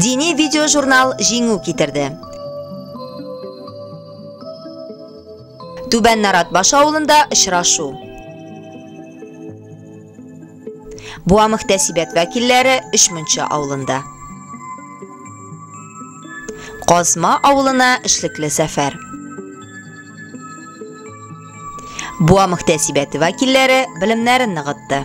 Дини видеожурнал җиңү китерде. Түбән Наратбаш авылында очрашу. Буа мөхтәсибәт вәкилләре Өчмунча авылында. Казма авылына эшлекле сәфәр. Буа мөхтәсибәте вәкилләре белемнәрен ныгытты.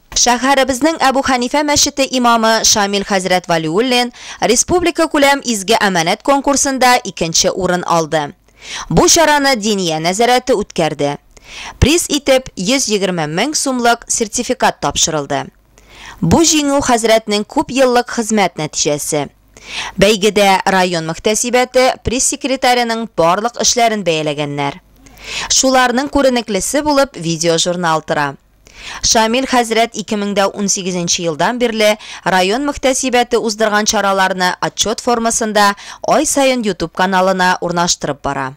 Шәһәребезнең Әбү Хәнифә мәчете имамы Шамил хәзрәт Вәлиуллин республикакүләм Изге әманәт конкурсында икенче урын алды. Бу чараны Диния нәзарәте үткәрде. Приз итеп 120 мең сумлык сертификат тапшырылды. Бу җиңү хәзрәтнең күп еллык хезмәт нәтиҗәсе. Бәйгедә район мөхтәсибәте пресс-секретареның барлык эшләрен бәяләгәннәр. Шуларның күренеклесе булып видеожурнал тора. Шамил хәзрәт 2018 нче елдан бирле район мөхтәсибәте уздырган чараларны отчет формасында ай саен ютуб каналына урнаштырып бара.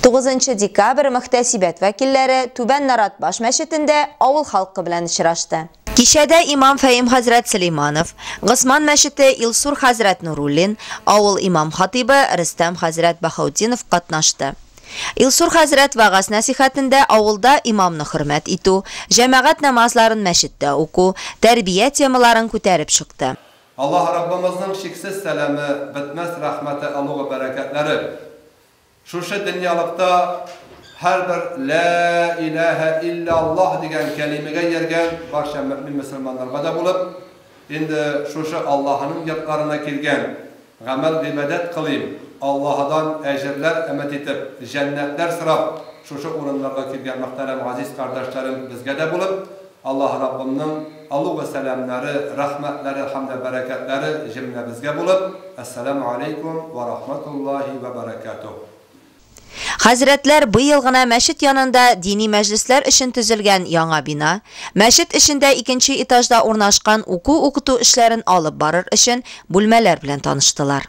Тугызынчы декабрь мөхтәсибәт вәкилләре Түбән Нарат баш мәчетендә авыл халкы белән очрашты. Кичәдә имам Фәем хәзрәт Сөләйманов, Госман мәчете Илсур хәзрәт Нуруллин, авыл имам-хатыйбы Рөстәм хәзрәт Баһаутдинов катнашты. Илсур хәзрәт вәгазь-нәсыйхәтендә авылда имамны хөрмәт итү, җәмәгать намазларын мәчеттә уку, тәрбия темаларын күтәреп чыкты. Аллаһ Раббымызның чиксез сәламе, бетмәс рәхмәте, олугы бәрәкәтләре Шушы дөньялыкта һәрбер Лә иләһә илля Аллаһ дигән кәлимәгә ияргән барча мөэмин-мөселманнарга да булып, инде шушы Аллаһының йортларына килгән, гамәл-гыйбадәт кылыйм, Аллаһыдан әҗерләр өмет итеп, җәннәтләр сорап, шушы урыннарга килгән мөхтәрәм газиз кардәшләрем безгә дә булып, Аллаһ Раббымның олуг сәламнәре, рәхмәтләре һәм дә бәрәкәтләре җемләбезгә булып, Әссәләмү алейкум вә рахматуллаһи вә бәрәкәтүһ! Хәзрәтләр быел гына мәчет янында дини мәҗлесләр өчен төзелгән яңа бина, мәчет эчендә икенче этажда урнашкан уку-укыту эшләрен алып барыр өчен бүлмәләр белән таныштылар.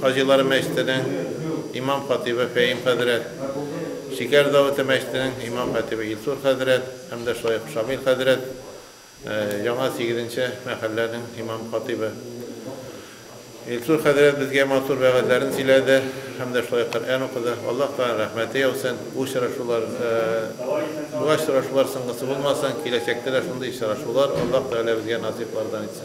Хаҗилары мәчетенең имам-хатыйбы Фәим хәзрәт, Шикәр Давыты мәчетенең имам-хатыйбы Илсур хәзрәт һәм дә шулай ук Шамил хәзрәт, яңа сигезенче мәхәлләнең имам-хатыйбы. Илсур хәзрәт безгә матур вәгазьләрен сөйләде һәм дә шулай ук Коръән укыды. Аллаһ Тәгаләнең рәхмәте яусын, бу очрашулар, шулай очрашулар соңгысы булмасын, киләчәктә дә шундый очрашулар Аллаһ Тәгалә безгә насыйплардан итсен.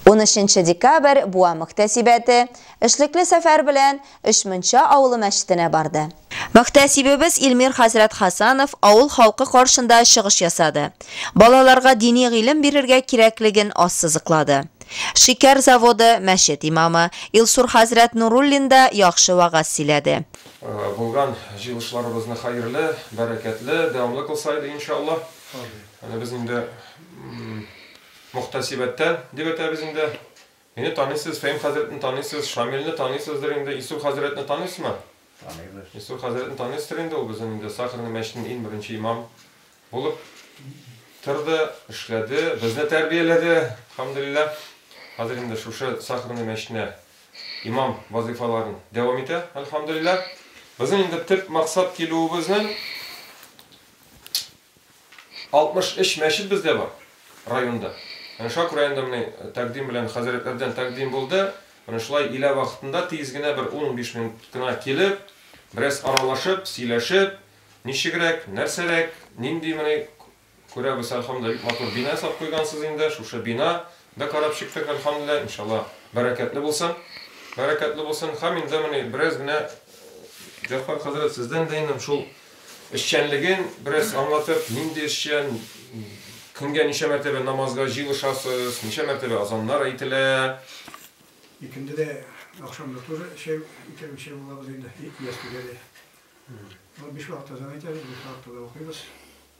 Унөченче декабрь буа мөхтәсибәте эшлекле сәфәр белән Өчмунча авылы мәчетенә барды. Мөхтәсибебез Илмир хәзрәт Хәсанов авыл халкы каршында чыгыш ясады, балаларга дини гыйлем бирергә кирәклеген ассызыклады. Шикәр заводы, мәчет имамы, Илсур хәзрәт Нуруллин да яхшы вәгазь сөйләде. Булган җыелышларыбызны хәерле, бәрәкәтле, дәвамлы кылса иде, иншаллаһ. Әнә без инде Мөхтәсибәттән дип әйтәбез инде. Мине таныйсыз, Фәим хәзрәтне таныйсыз, Шамилне таныйсыздыр инде, Илсур хәзрәтне таныйсызмы? Таныйбыз. Илсур хәзрәтне таныйсыздыр инде, ул безнең инде Сахарный мәчетенең иң беренче имам булып торды, эшләде, безне тәрбияләде, хәмдүлилләһ. Хәзер инде шушы Сахарный мәчетенә имам вазыйфаларын дәвам итә, әлхәмдүлилләһ. Безнең инде төп максат килүебезнең, 63 мәчет бездә бар районда. Менә Шак районында менә тәкъдим белән хәзрәтләрдән тәкъдим булды. Менә шулай илә вакытында тиз генә бер ун-унбиш минут кына килеп, бераз аралашып, сөйләшеп, ничегрәк, нәрсәрәк, нинди менә күрәбез, әлхәмдүлилләһ, бик матур бина ясап куйгансыз инде, шушы бина Да карап чыктык әлхәмдүлилләһ иншалла бәрәкәтле булсын бәрәкәтле булсын һәм инде менә бераз генә Җәгъфар хәзрәт сездән дә инем шул эшчәнлеген бераз аңлатып нинди эшчән көнгә ничә мәртәбә намазга җыелышасыз ничә мәртәбә азаннар әйтелә? Икенде дә ахшам да тоже чәй икәү чәй булабыз инде ястүгә дә. Ул биш вакыт азан әйтәбез биш вакытта да укыйбыз.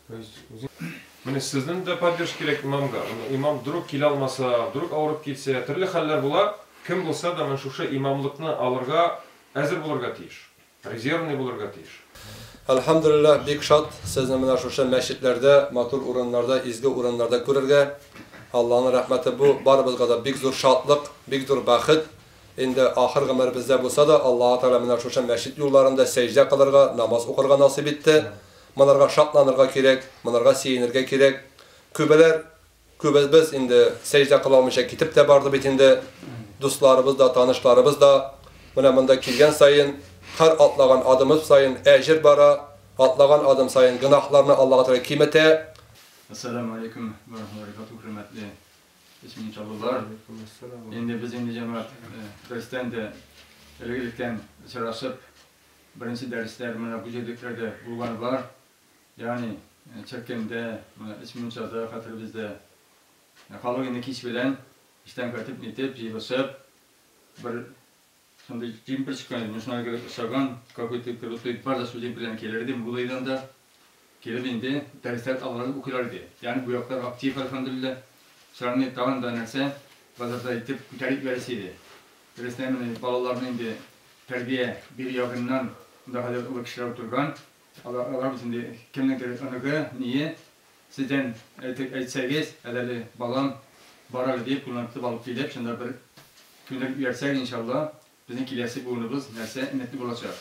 Менә сезнең дә поддерж кирәк имамга. Имам друг килә алмаса, друг авырып китсә, төрле хәлләр була. Кем булса да менә шушы имамлыкны алырга әзер булырга тиеш. Резервный булырга тиеш. Әлхәмдүлилләһ, бик шат сезне менә шушы мәчетләрдә, матур урыннарда, изге урыннарда күрергә. Алланың рәхмәте бу, барыбызга да бик зур шатлык, бик зур бәхет. Инде ахыр гомеребездә булса да, Аллаһы Тәгалә менә шушы мәчет юлларында сәҗдә кылырга, намаз укырга насыйп итте. Монарга шатланырга кирәк, монарга сөенергә кирәк. Күбеләр, күбебез инде сәҗдә кыла алмыйча китеп тә барды бит инде. Дусларыбыз да, танышларыбыз да. Менә монда килгән саен, һәр атлаган адымыбыз саен әҗер бара, атлаган адым саен гөнаһларны Аллага Тәгалә киметә. Әссәламү алейкүм вә рахмәтүллаһи вә бәрәкатүһү, хөрмәтле исмени чаллылылар! Инде без инде, җәмәгать рәистән дә элек-электән очрашып. Беренче дәресләр менә бу җирлекләрдә булган бар. Ягъни Чәккәндә, менә Өч мунчада, хәтеребездә. Халык инде кич белән эштән кайтып, нитеп, җыелышып, бер шундый җим пешкән, мешнәгә охшаган какой-то крутой, бар да шул җим белән килер иде, Муллаидан да. Килеп инде, дәресләр алгырак укыйлар иде. Янь гуяклар актив, әлхәмдүлилләһ. Чыраеңны тагын да нәрсә, базардай итеп күтәреп ибәрәсе иде. Дөрестән мени, балаларны инде тәрбия бирү ягыннан монда хәзер олы кешеләр утырган. Алар, алар бит инде кемнеңдер оныгы, ние. Сездән әйтеп әйтсәгез, әдәле балам, бар әле, диеп, кулына тотып алып килеп, шунда бер күндереп ибәрсәк, иншалла, безнең киләсе буыныбыз нәрсә, өметле булачак.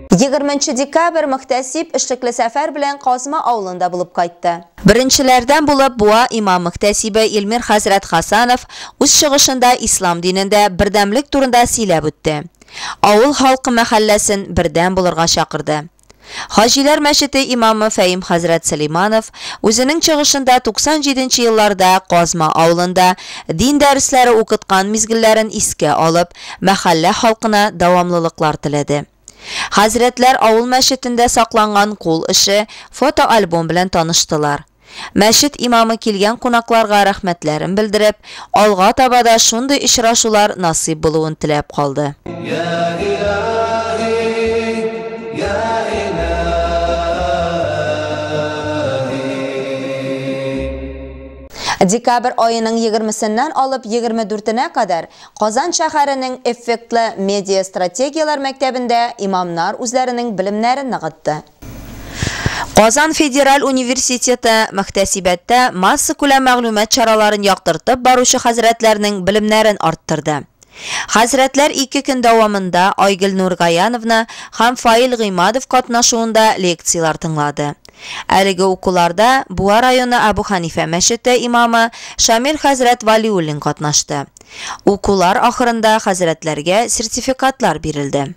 20 нче декабрь Мөхтәсиб эшлекле сәфәр белән Казма авылында булып кайтты. Беренчеләрдән булып Буа имам мөхтәсибе Илмир хәзрәт Хасанов үз чыгышында ислам динендә бердәмлек турында сөйләп үтте. Авыл халкы мәхәлләсен бердәм булырга чакырды. Хаҗиләр мәчете имамы Фәим хәзрәт Сөләйманов үзенең чыгышында 97 нче елларда Казма авылында дин дәресләре укыткан мизгелләрен искә алып, мәхәллә халкына дәвамлылыклар теләде. Хәзрәтләр авыл мәчетендә сакланган кул эше, фотоальбом белән таныштылар. Мәчет имамы килгән кунакларга рәхмәтләрен белдереп, алга таба да шундый очрашулар насыйп булуын теләп калды. Декабрь аеның егермесеннән алып егерме дүртенә кадәр Казан шәһәренең эффектлы медиа-стратегияләр мәктәбендә имамнар үзләренең белемнәрен ныгытты. Казан федераль университеты мөхтәсибәттә массакүләм мәгълүмат чараларын яктыртып баручы хәзрәтләрнең белемнәрен арттырды. Хәзрәтләр ике көн дәвамында Айгөл Нургаяновна һәм Фаил Гыймадов катнашуында лекцияләр тыңлады. Әлеге укуларда Буа районы Әбү Хәнифә мәчете имамы Шамил хәзрәт Вәлиуллин катнашты. Укулар ахырында хәзрәтләргә сертификатлар бирелде.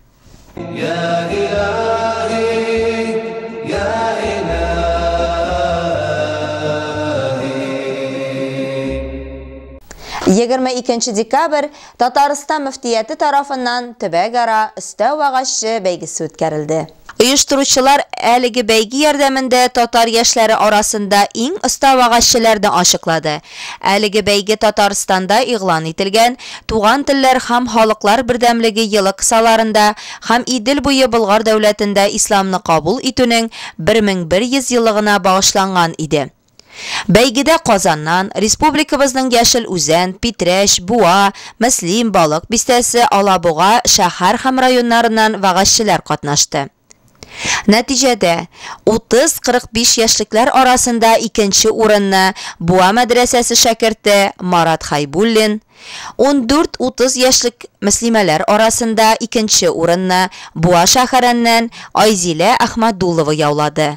Егерме икенче декабрь Татарстан мөфтияте тарафыннан төбәкара Өстәү агачы бәйгесе үткәрелде. Оештыручылар әлеге бәйге ярдәмендә татар яшьләре арасында иң оста вәгазьчеләрне ачыклады. Әлеге бәйге Татарстанда игълан ителгән Туган телләр һәм халыклар бердәмлеге елы кысаларында һәм Идел буе Болгар дәүләтендә исламны кабул итүнең 1100 еллыгына багышланган иде. Бәйгедә Казаннан, республикабызның Яшел Үзән, Питрәч, Буа, Мөслим, Балык Бистәсе, Алабуга шәһәр һәм районнарыннан вәгазьчеләр катнашты. Нәтиҗәдә, 30-45 яшьлекләр арасында икенче урынны Буа мәдрәсәсе шәкерте Марат Хәйбуллин, 14-30 яшьлек мөслимәләр арасында икенче урынны Буа шәһәреннән Айзилә Әхмәдулова яулады.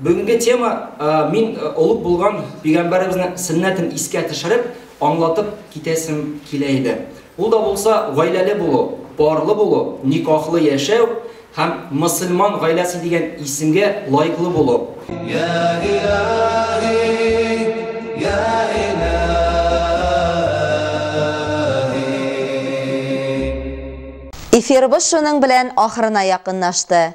Бүгенге тема, мин олуг булган пигамбәребезнең сөннәтен искә төшереп, аңлатып китәсем килә иде. Ул да булса, гаиләле булу, парлы булу, никахлы яшәү һәм мөселман гаиләсе дигән исемгә лаеклы булу. Йә илаһи, йә илаһи. Эфирыбыз шуның белән ахырына якынлашты.